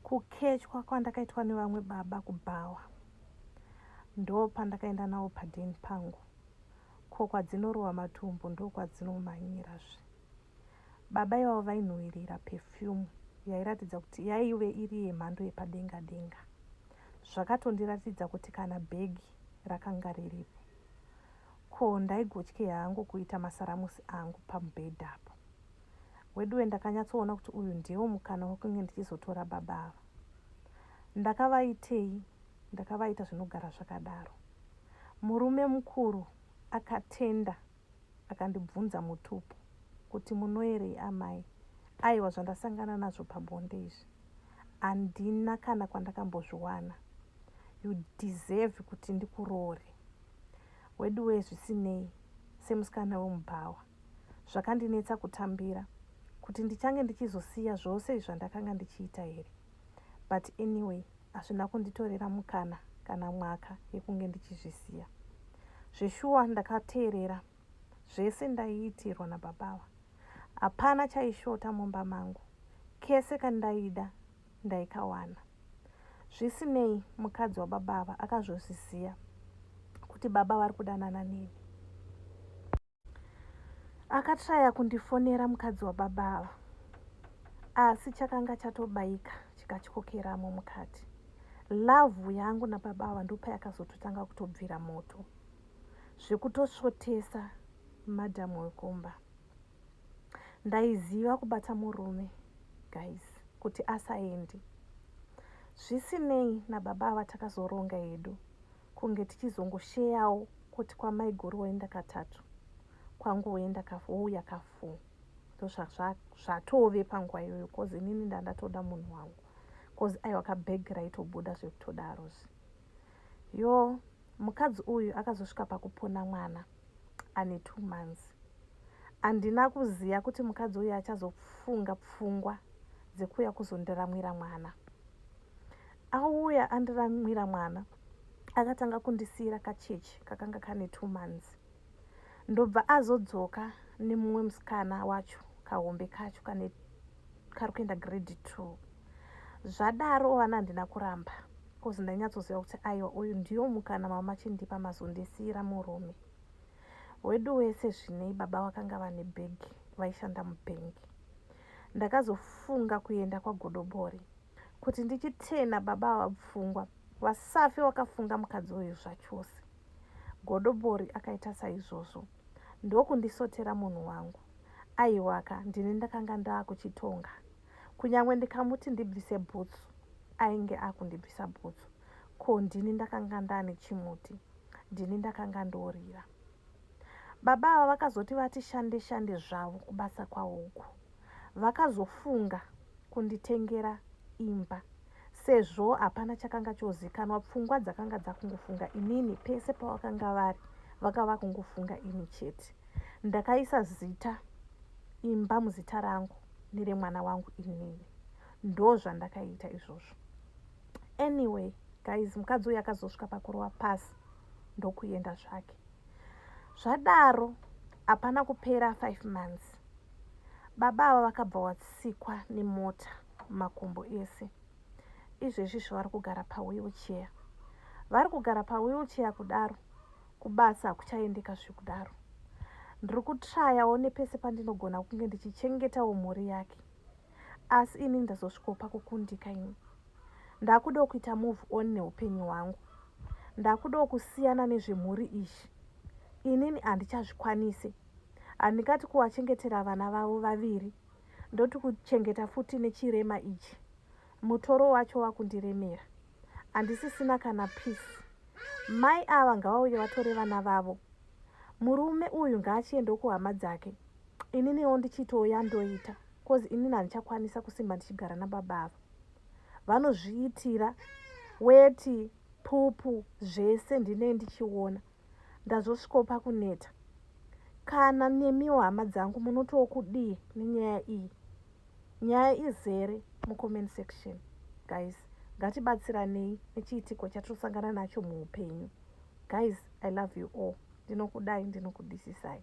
kukechwa kwandakaitwa nevamwe baba kubhawa ndopandakaenda nawo padin pangu ko kwadzinorowa matumbu ndokwadzinomhanyira zve baba ivavo vainhuwirira pefyumu yairatidza kuti yaive iri yemhando yepadenga denga zvakatondiratidza kuti kana bhegi rakanga riripo ko ndaigotye hangu kuita masaramusi angu pamubhedhapo Weduwe ndakanyatsoona kuti uyu ndiwo mukana wekunge ndichizotora baba ava. Ndakavaitei? Ndakavaita zvinogara zvakadaro. Murume mukuru akatenda akandibvunza mutupo kuti munoerei amai? Aiwa zvandasangana nazvo pabonde izvi handina kana kwandakambozviwana. You deserve kuti ndikuroore. Weduwe zvisinei semusikana wemubhawa. zvakandinetsa kutambira kuti ndichange ndichizosiya zvose zvandakanga ndichiita here but anyway hazvina kunditorera mukana kana mwaka yekunge ndichizvisiya zveshuwa ndakateerera zvese ndaiitirwa nababa ava hapana chaishota mumba mangu kese kandaida ndaikawana zvisinei mukadzi wababa ava akazozviziva kuti baba vari kudanana neni Akatraya kundifonera mukadzi wababa ava asi chakanga chatobaika chikatyokeramo mukati. Lavhu yangu nababa ava ndopa yakazototanga kutobvira moto zvekutosvotesa madhamu wekumba. Ndaiziva kubata murume guys kuti asaendi. Zvisinei nababa ava takazoronga hedu kunge tichizongosheyawo kuti kwamaiguru woenda katatu kwangu woenda wouya kafuu ndozvatove panguva iyoyo bcause inini ndandatoda munhu wangu bcause aiwa kabhegi raitobuda zvekutodaro zve yo mukadzi uyu akazosvika pakupona mwana ane two months handina kuziva kuti mukadzi uyu achazofunga pfungwa dzekuuya kuzondiramwira mwana Auya andiramwira mwana akatanga kundisiira kachechi kakanga kane two months ndobva azodzoka nemumwe musikana wacho kahombe kacho kane kari kuenda grade two zvadaro ovana handina kuramba bcause ndainyatsoziva kuti aiwa uyu ndiyo mukana mama chindipa mazondisiira murume wedu wese zvinei baba vakanga vane bhegi vaishanda mubhengi ndakazofunga kuenda kwagodobori Kuti ndichitii nababa ava pfungwa vasafe wakafunga mukadzi uyu zvachose. Godobori akaita saizvozvo ndokundisotera munhu wangu. Aiwaka ndini ndakanga ndaakuchitonga. Kunyangwe ndikamuti ndibvise bhutsu ainge akundibvisa bhutsu. Ko ndini ndakanga ndane chimuti. Ndini ndakanga ndorira. Baba ava vakazoti vati shande shande zvavo kubasa kwavo uku. Vakazofunga kunditengera imba sezvo hapana chakanga chozikanwa pfungwa dzakanga dzakungofunga inini pese pavakanga vari vakava kungofunga ini chete. Ndakaisa zita imba muzita rangu neremwana wangu inini. Ndozvandakaita izvozvo. Anyway guys mukadzi uyu akazosvika pakurova pasi ndokuenda zvake. Zvadaro hapana kupera 5 months Baba ava vakabva vatsikwa nemota makumbo ese. Izvezvizvi vari kugara pawheelchair. Vari kugara pawheelchair kudaro kubasa hakuchaendeka zvekudaro. Ndiri kutrayawo nepese pandinogona kunge ndichichengetawo mhuri yake. Asi ini ndazosvikawo pakukundika ini. Ndakudawo kuita move on neupenyu hwangu. Ndakudawo kusiyana nezvemhuri izvi. Inini handichazvikwanise. handingati kuwachengetera vana vavo vaviri ndoti kuchengeta futi nechirema ichi mutoro wacho wakundiremera handisisina kana peace mai ava ngavauye vatore vana vavo murume uyu ngaachiendewo kuhama dzake ininiwo ndichitouya ndoita coz inini handichakwanisa kusimba ndichigara nababa ava vanozviitira weti pupu zvese ndinei ndichiona Ndazosvikawo pakuneta kana nemiwo hama dzangu munotiwo kudii nenyaya iyi nyaya izere mucomment section guys ngatibatsiranei nechiitiko chatirosangana nacho muupenyu guys i love you all ndinokudai ndinokudisisai